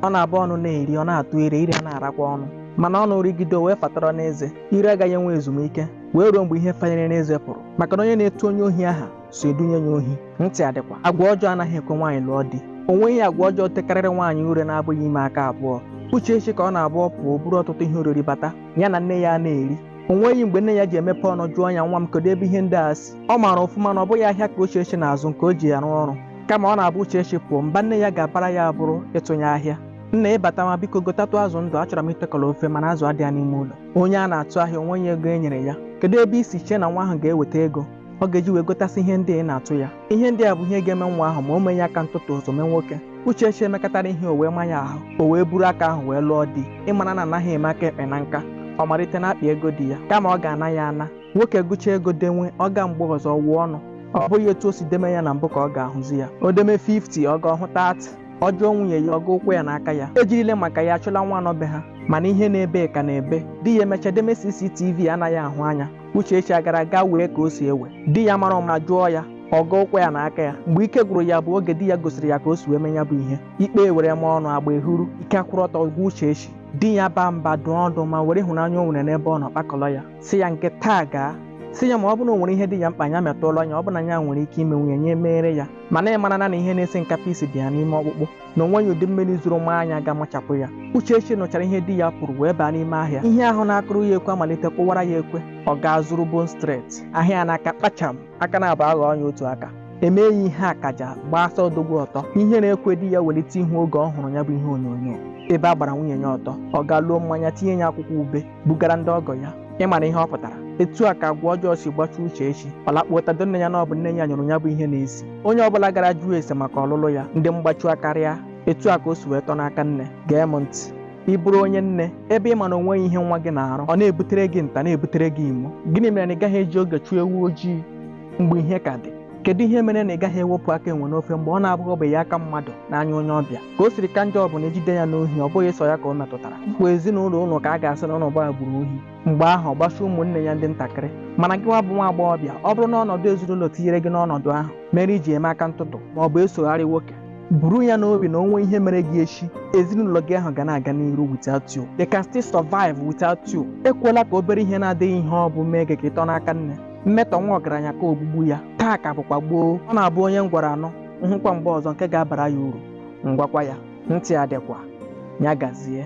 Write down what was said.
ọ na-abụ ọnụ na-eri ọ na-atụ ire ire na-arakwa ọnụ mana ọnụ rigide wee fatọrọ n'eze ire agaghị enwe ezumike wee ruo mgbe ihe fanyere n'eze pụrụ maka na onye na-etu onye ohi aha so edunye ya ohi ntị adịkwa agwa ọjọọ anaghị ekwe nwaanyị lụọ di o nweghị agwa ọjọọ tekarịrị nwaanyị ure na-abụghị ime aka abụọ Uchechi ka ọ na-abụ ọ pụọ buru ọtụtụ ihe oriri bata ya na nne ya na-eri o nweghị mgbe nne ya ji emepe ọnụ jụọ ya nwa m kedu ebe ihe ndị a si ọ maara ọfụma na ọ bụghị ahịa ka Uchechi na-azụ nke o ji arụ ọrụ kama ọ na-abụ Uchechi pụọ mba nne ya ga-abara ya abụrụ ịtụnye ahịa nna ị batama biko gotatụ azụ ndụ achọrọ m itekọrọ ofe mana azụ adịghị n'ime ụlọ onye a na-atụ ahịa o nweghị ego e nyere ya kedu ebe i si chee na nwa ahụ ga-eweta ego ọ ga-eji wee gotasị ihe ndị ị na-atụ ya ihe ndị a bụ ihe ga-eme nwa ahụ ma o meghị aka ntụtụ o some nwoke Uchechi emekatara ihe o wee ma ya ahụ o wee buru aka ahụ wee lụọ di ị mara na anaghị eme aka ekpe na nka ọ malite n'akpa ego di ya kama ọ ga-ana ya ana nwoke gụcha ego denwe ọ gaa mgbe ọzọ gụọ ọnụ ọ bụghị etu o si deme ya na mbụ ka ọ ga-ahụzi ya o deme 50 ọ gaa ọ hụ 30 ọ jụọ nwunye ya ọ gọọ ụkwụ ya na aka ya e jirile maka ya chụla nwa nọ be ha mana ihe na-ebe ka na-ebe di ya emecha deme CCTV anaghị ahụ anya Uchechi agara gaa wee ka o si ewe di ya mara ụma jụọ ya ọ gọọ ụkwụ ya na aka ya mgbe ike gwụrụ ya bụ oge di ya gosiri ya ka o si wee mee ya bụ ihe ikpe ewere ma ọnụ agba ehuru ike akwụrụ ọtọ gwa Uchechi di ya baa mba dụọ ọdụ ma were ịhụnanya o nwere n'ebe ọ nọ kpakọrọ ya sị ya nke taa gaa sị ya ma ọ bụrụ na o nwere ihe dị ya mkpa ya metụọla ya ọ bụ na ya nwere ike ime nwunye ya emere ya mana ị mara na na ihe na-esi nkapị isi dị ya n'ime ọkpụkpụ na o nweghị ụdị mmiri zoro maa ya ga-amachapụ ya Uchechi nụchara ihe di ya pụrụ wee baa n'ime ahịa ihe ahụ na-akụrụ ya ekwe amalite kụwara ya ekwe ọ gaa zuru bone straight ahịa ya n'aka kpacham aka na-abụ aghọ ọnya otu aka emee ya ihe akaja gbaa sọ odogwu ọtọ ihere ekwe di ya welite ihu oge ọ hụrụ ya bụ ihe onyonyo ebe a gbara nwunye ya ọtọ ọ gaa luo mmanya tinye ya akwụkwọ ube bugara ndị ọgọ ya ị mara ihe ọ pụtara etu a ka agwa ọjọọ si gbachuo Uchechi ọ lakpuotado nne ya na ọ bụ nne ya nyụrụ ya bụ ihe na-esi onye ọbụla gara jụọ ese maka ọlụlụ ya ndị mgbachu akarịa etu a ka o si wee tọ n'aka nne gee m ntị ị bụrụ onye nne ebe ị ma na o nweghị ihe nwa gị na-arụ ọ na-ebutere gị nta na-ebutere gị imo gịnị mere na ị gaghị eji oge chụọ ewu ojii mgbe ihe ka dị kedu ihe mere na ị gaghị ewepụ aka enwe n'ofe mgbe ọ na-aghọbeghị aka mmadụ n'anya onye ọbịa ka o siri ka njọ bụ na e jide ya n'ohi ọ bụghị sọ ya ka ọ metụtara kwa ezinụlọ unu ka a ga-asị na unu bụ agbụrụ ohi mgbe ahụ ọ gbasa ụmụnne ya ndị ntakịrị mana gịwa bụ nwa agbọghọbịa ọ bụrụ na ọnọdụ ezinụlọ tinyere gị n'ọnọdụ ahụ mere i ji eme aka ntụtụ ma ọ bụ esogharị nwoke buru ya n'obi na o nwee ihe mere gị echi ezinụlọ gị ahụ ga na-aga n'iru without you they can still survive without you ekwela ka obere ihe na-adịghị ihe ọ bụ mee gị ka ị tọ n'aka nne mmetọ nwa ọgaranya ka ogbugbu ya taa ka bụkwa gboo ọ na-abụ onye m gwara anụ m hụkwa mgbe ọzọ nke ga-abara ya uru m gwakwa ya ntị adịkwa ya gazie